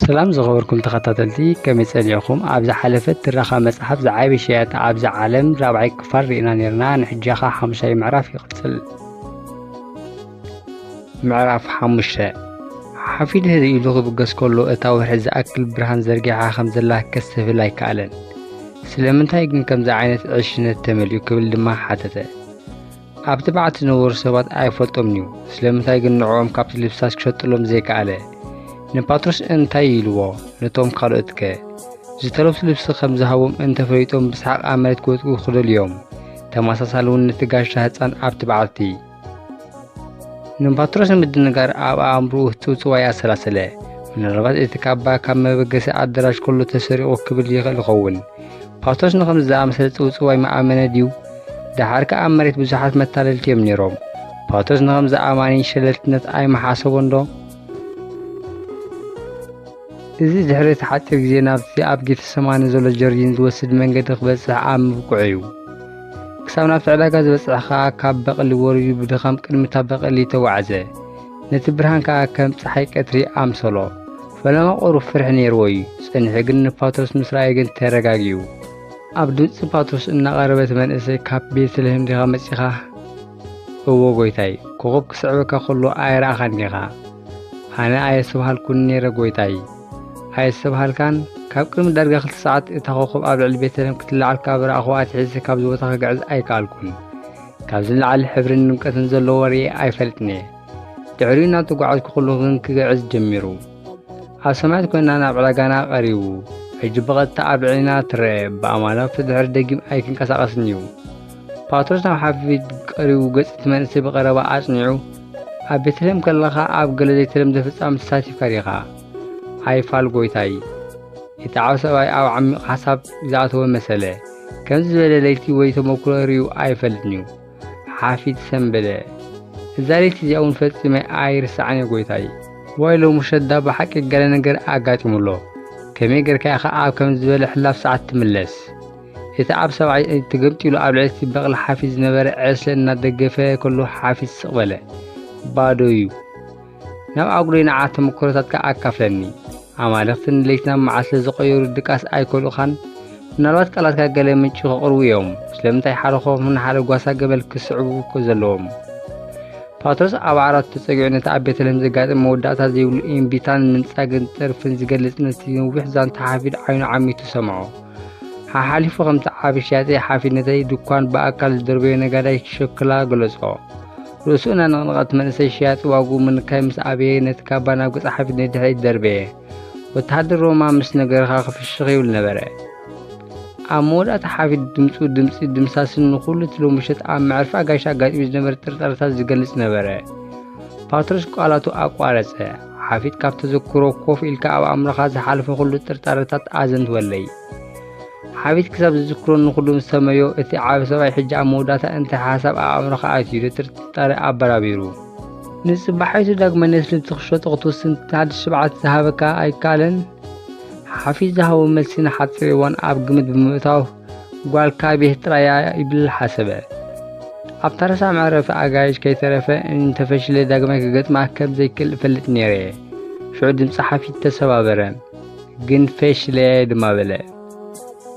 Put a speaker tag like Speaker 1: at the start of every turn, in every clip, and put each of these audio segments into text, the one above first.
Speaker 1: ሰላም ዝኸበርኩም ተኸታተልቲ ከመይ ጸኒዕኹም ኣብ ዝሓለፈት ትረኻ መጽሓፍ ዝዓበ ሸያጢ ኣብዚ ዓለም ራብዓይ ክፋል ርኢና ነርና ንሕጃኻ ሓሙሻይ ምዕራፍ ይቕጽል ምዕራፍ ሓሙሽተ ሓፊድ ህዚ ኢሉ ክብገስ ከሎ እታ ወርሒ ዝኣክል ብርሃን ዘርጊሓ ከም ዘላ ከስተብህል ኣይከኣለን ስለምንታይ ግን ከምዚ ዓይነት ዕሽነት ተመልዩ ክብል ድማ ሓተተ ኣብ ትብዓት ዝነበሩ ሰባት ኣይፈልጦምን'ዩ፣ ስለምንታይ ግን ንዕኦም ካብቲ ልብሳስ ክሸጥሎም ዘይከኣለ? ንፓትሮስ እንታይ ኢልዎ? ነቶም ካልኦትከ? ዝተለብሱ ልብሲ ከም ዝሃቦም እንተ ፈሊጦም ብሰሓቕ ኣብ መሬት ክወድቁ ክደልዩ'ዮም። ተመሳሳሊ እውን ነቲ ጋሻ ህጻን ኣብ ትብዓት'ቲ። ንፓትሮስ ንምድንጋር ኣብ ኣእምሮኡ ህጽውጽዋይ ኣሰላሰለ። ምናልባት እቲ ካባ ካብ መበገሲ ኣደራሽ ከሎ ተሰሪቑ ክብል ይኽእል ይኸውን። ፓቶስ ንኸምዚ ዝኣመሰለ ጽውጽው ኣይመኣመነ ድዩ? ደሓር ከኣ ኣብ መሬት ብዙሓት መታለልቲ እዮም ነይሮም። ፓቶስ ንኸምዚ ኣማኒን ሸለልትነት ኣይመሓሰቦን ዶ? እዚ ድሕሪ እቲ ሓጺር ግዜ ናብቲ ኣብ ጌተሰማኒ ዘሎ ጀርዲን ዝወስድ መንገዲ ክበጽሕ ኣብ ምብቅዑ እዩ። ክሳብ ናብቲ ዕዳጋ ዝበጽሐ ከኣ ካብ በቕሊ ወሪዱ ብድኻም ቅድሚ እታ በቕሊ ተጓዕዘ። ነቲ ብርሃን ከኣ ከም ጸሓይ ቀትሪ ኣምሰሎ። ፈለማ ቁሩብ ፍርሒ ነይርዎ እዩ ጸኒሑ ግን ንፓትሮስ ምስ ረኣየ ግን ተረጋጊኡ ኣብ ድምጺ ፓትሮስ እናቐረበ እቲ መንእሰይ ካብ ቤትልሄም ዲኻ መጺኻ እዎ ጎይታይ ኮኾብ ክስዕበካ ከሎ ኣይረኣኻን ዲኻ ኣነ ኣየስተብሃልኩን ነይረ ጎይታይ ኣየስተብሃልካን ካብ ቅድሚ ዳርጋ ክልተ ሰዓት እታ ኮኾብ ኣብ ልዕሊ ቤተልሄም ክትለዓል ካብ ረኣኹ ኣትሒዘ ካብዚ ቦታ ክግዕዝ ኣይከኣልኩን ካብዚ ንላዕሊ ሕብርን ድምቀትን ዘለዎ ርኤ ኣይፈልጥን እየ ድሕሪኡ እናተጓዓዝኩ ኩሉ ግን ክግዕዝ ጀሚሩ ኣብ ሰማያት ኮይና ናብ ዕዳጋና ቀሪቡ ሕጂ ብቐጥታ ኣብ ልዕሊና ትረአ ብኣማላኽቲ ድሕሪ ደጊም ኣይክንቀሳቐስን እዩ ፓትሮስ ናብ ሓፊት ቀሪቡ ገጽ እቲ መንእሰይ ብቐረባ ኣጽኒዑ ኣብ ቤተልሔም ከለኻ ኣብ ገለ ዘይተለምደ ፍጻም ተሳቲፍካ ዲኻ ኣይፋል ጎይታይ እቲ ዓብ ሰብኣይ ኣብ ዓሚቕ ሓሳብ ዝኣተወ መሰለ ከምዚ ዝበለ ለይቲ ወይ ተመክሮ ርዩ ኣይፈልጥን እዩ ሓፊዝ ሰምበለ እዛ ለይቲ እዚኣ እውን ፈጺመ ኣይርስዓን እየ ጎይታይ ዋይ ሎሚ ሸዳ ብሓቂ ገለ ነገር ኣጋጢሙ ኣሎ ከመይ ጌርካ ኢኻ ኣብ ከም ዝበለ ሕላፍ ሰዓት ትምለስ እቲ ኣብ ሰብዓይ ተገምጢሉ ኣብ ልዕሊ እቲ በቕሊ ሓፊዝ ዝነበረ ዕስለ እናደገፈ ከሎ ሓፊዝ ስቕ በለ ባዶ እዩ ናብ ኣጉሪ ንዓ ተመክሮታትካ ኣካፍለኒ ኣማልኽቲ ንለይቲ ናብ መዓል ስለ ዝቐየሩ ድቃስ ኣይከልኡኻን ምናልባት ቃላትካ ገለ ምንጪ ከቕርቡ እዮም ስለምንታይ ሓደ ኮፍ ንሓደ ጓሳ ገበል ክስዕቡ እኮ ዘለዎም ፓትሮስ ኣብ ዓራቱ ተጸጊዑ ነቲ ኣብ ቤተልሔም ዘጋጥም መወዳእታ ዘይብሉ እምቢታን ምንጻግን ጥርፍን ዝገልጽ ነቲ ነዊሕ ዛንታ ሓፊድ ዓይኑ ዓሚቱ ሰምዖ ሓሓሊፉ ከምቲ ዓቢ ሸያጢ ሓፊድነተይ ድኳን ብኣካል ዝደርበዮ ነጋዳይ ሸክላ ገለጾ ርእሱ እናነቕነቐ እቲ መንእሰይ ሸያጢ ዋግኡ ምንካይ ምስ ኣበየ ነቲ ካባ ናብ ገጽ ሓፊት ንድሕሪት ደርበየ። ወተሃደር ሮማ ምስ ነገርኻ ክፍሽኽ ይብል ነበረ። ኣብ መወዳእታ ሓፊት ድምፁ ድምፂ ድምሳስን ንኹሉ እቲ ሎሚ ምሸት ኣብ መዕርፊ ኣጋይሽ ኣጋጢሙ ዝነበረ ጥርጣረታት ዝገልጽ ነበረ። ፓትሮስ ቃላቱ ኣቋረጸ። ሓፊት ካብ ተዘክሮ ኮፍ ኢልካ ኣብ ኣእምሮኻ ዝሓለፈ ኩሉ ጥርጣረታት ኣዘንትወለይ። ሓቢት ክሳብ ዝዝክሮ ንኹሉ ምስ ሰመዮ እቲ ዓቢ ሰብኣይ ሕጂ ኣብ መወዳእታ እንታይ ሓሳብ ኣብ ኣእምሮኻ ኣትዩ ንጥርጣረ ኣበራቢሩ። ንጽባሒቱ ዳግመ ነስልምቲ ክሸጦ ክትውስን ሓድሽ ሽብዓት ዝሃበካ ኣይከኣለን? ሓፊት ዝሃቦ መልሲ ንሓጺር እዋን ኣብ ግምት ብምእታው ጓልካ ቤት ጥራያ ይብል ሓሰበ። ኣብ ታረሳ መዕረፊ ኣጋይሽ ከይተረፈ እንተፈሽለ ዳግማይ ክገጥማ ከም ዘይክእል እፈልጥ ነይረ። ሽዑ ድምጺ ሓፊት ተሰባበረ። ግን ፈሽለ ድማ በለ።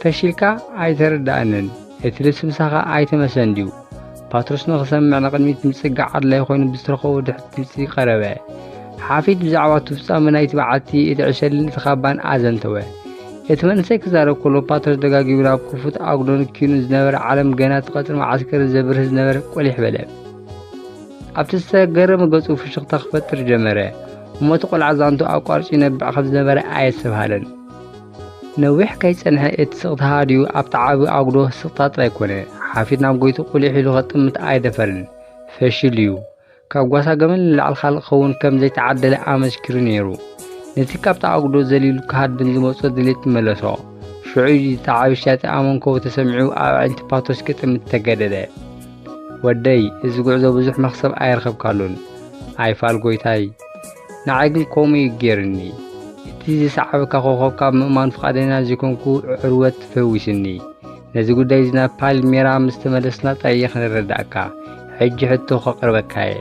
Speaker 1: ፈሺልካ ኣይተረድኣንን፣ እቲ ልስምሳኻ ኣይተመሰን ድዩ? ፓትሮስ ንኽሰምዕ ንቕድሚት ምጽጋዕ ኣድላይ ኮይኑ ብዝተረኸቦ ድሕት ድምጺ ቀረበ። ሓፊት ብዛዕባ እቲ ፍጻመ ናይቲ በዓቲ እቲ ዕሸልን እቲ ካባን ኣዘንተወ። እቲ መንእሰይ ክዛረብ ከሎ ፓትሮስ ደጋጊሙ ናብ ክፉት ኣጉዶን ኪኑን ዝነበረ ዓለም ገና እቲ ቀጽሪ መዓስከር ዘብርህ ዝነበረ ቆሊሕ በለ። ኣብቲ ዝተገረመ ገጹ ፍሽኽታ ክፈጥር ጀመረ እሞ እቲ ቆልዓ ዛንቱ ኣቋርጹ ይነብዕ ከም ዝነበረ ኣየስተብሃለን። ነዊሕ ከይጸንሐ እቲ ስቕታ ሃድዩ ኣብቲ ዓቢ ኣጉዶ ስቕታ ጥራይ ኮነ። ሓፊት ናብ ጎይቱ ቁሊሕ ኢሉ ከጥምት ኣይደፈርን። ፈሽል እዩ። ካብ ጓሳ ገመል ንላዕሊ ካልእ ክኸውን ከም ዘይተዓደለ ኣመስኪሩ ነይሩ። ነቲ ካብቲ ኣጉዶ ዘሊሉ ክሃድም ዝመጾ ድሌት መለሶ። ሽዑ እዩ ተዓብሻቲ ኣመንኮቡ ተሰሚዑ ኣብ ኣዒንቲ ፓቶስ ክጥምት ተገደደ። ወደይ እዚ ጉዕዞ ብዙሕ መኽሰብ ኣይረኸብካሉን ኣይፋል ጎይታይ ንዓይ ግን ከምኡ እዩ ጌርኒ እቲ ዝሰዓበካ ኮኸብ ካብ ምእማን ፍቓደና ዘይኮንኩ ዕርወት ፈዊስኒ ነዚ ጉዳይ እዚ ናብ ፓልሜራ ምስ ተመለስና ጠይኽ ንረዳእካ ሕጂ ሕቶ ከቕርበካ እየ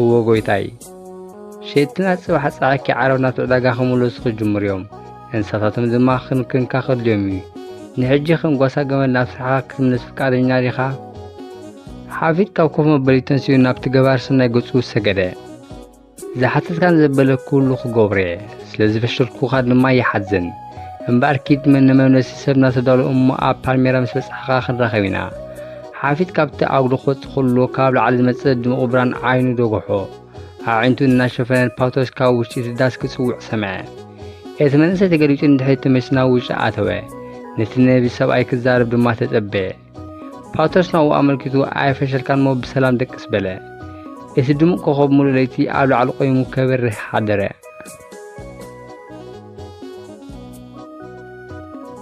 Speaker 1: እዎ ጎይታይ ሸየጥትና ጽባሕ ጸዓኪ ዓረብ ናብቲ ዕዳጋ ክምለሱ ክጅምሩ እዮም እንስሳታቶም ድማ ክንክንካ ከድልዮም እዩ ንሕጂ ከም ጓሳ ገመል ናብ ስራሕካ ክትምለስ ፍቃደኛ ዲኻ ሓፊት ካብ ኮፍ መበሊ ተንስኡ ናብቲ ገባር ሰናይ ገጹ ሰገደ ዝሓተትካን ዘበለ ኩሉ ክገብሮ እየ ስለ ዝፈሸልኩኻ ድማ ይሓዝን እምበኣር ኪድ መነመምለሲ ሰብ እናተዳሎ እሞ ኣብ ፓልሜራ ምስ በጻሕኻ ክንራኸብ ኢና ሓፊት ካብቲ ኣጉዶ ክወጽእ ከሎ ካብ ላዕሊ ዝመጽእ ድሙቕ ብራን ዓይኑ ደጎሖ። ኣዒንቱ እናሸፈነ ፓቶስ ካብ ውሽጢ እቲ ዳስ ክጽውዕ ሰምዐ። እቲ መንእሰይ ተገሊጹ ንድሕሪት ተመሊሱ ናብ ውሽጢ ኣተወ። ነቲ ነቢ ሰብኣይ ክዛረብ ድማ ተጸበየ። ፓቶስ ናብኡ ኣመልኪቱ ኣይፈሸልካን እሞ ብሰላም ደቅስ በለ። እቲ ድሙቕ ኮኸብ ሙሉእ ለይቲ ኣብ ላዕሊ ቆይሙ ከበርህ ሓደረ።